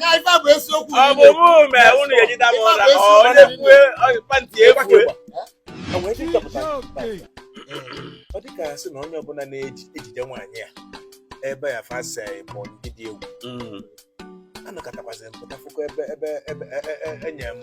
na ife a bụ eziokwu ọ bụ mụ mee unu ga-ejide m ụra ọ onye kwue pantị ekwue enwere ike ịchọpụta ọ dị ka sị na onye ọbụla na-ejije nwaanyị a ebe ya fasa ịbụ ndị dị egwu a nọkatakwazị m pụta fụkọ ebe ebe ebe e- e- e- enye m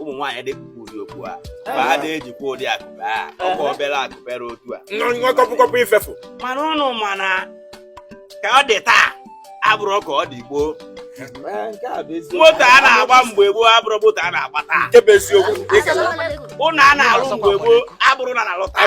ụmụ nwaanyị adị ekpukwa ụdị okpu a ma fa adị ejikwa ụdị akupe a ọkwa obere akupe ra otu a nwa kọpụkọpụ ifefu mana unu ma na ka ọ dị taa abụrọ ka ọ dị gboo moto a na-agba mgbe gboo abụrọ moto a na-agba taa nke bụ eziokwu ụnọ a na-alụ mgbe gboo abụrọ na a na-alụ taa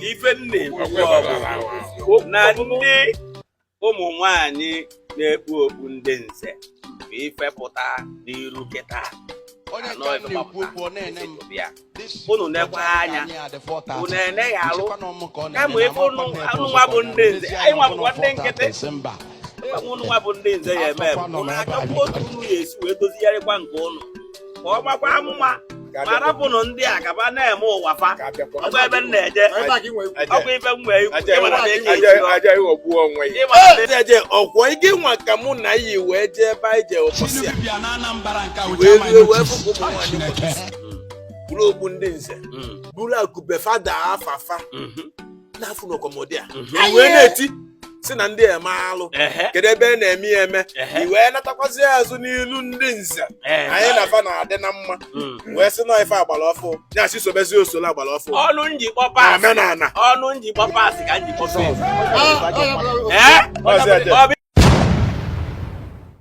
ife nn- na ndị ụmụ nwanyị na-ekpu okpu ndị nze bụ ife pụta n'iru kịta unu nekwa anya unu emeghị alụ kama ebe unu nwa bụ ndị nze anyị nwa bụkwa ndị nkịtị unu nwa bụ ndị nze ya eme unu achọkwa otu unu ya esi wee dozigharịkwa nke unu ka ọ gbakwa amụma ma rapụnụ ndị a gaba na-eme ụwa fa ọkwa ebe m na-eje ọkwa ebe m wee eje ọkwa gị nwa ka mụ na yị wee jee ebe anyị jee ụbọchị a wee ruo wee fụkwa ụmụ nwaanyị kpuru okpu ndị nze buru akupe fa dị afafa na-afụ n'ọkọmọdị a i wee na-eti sị na ndị a eme alụ kedu ebe a na-eme ya eme i wee natakwazi azụ n'ilu ndị nze anyị na fa na-adị na mma wee sị na ife agbara ọfụ ya sị sobezi usoro agbara ọfụ ọnụ njikpọ pas omenala ọnụ njikpọ pas ka njikpọ pas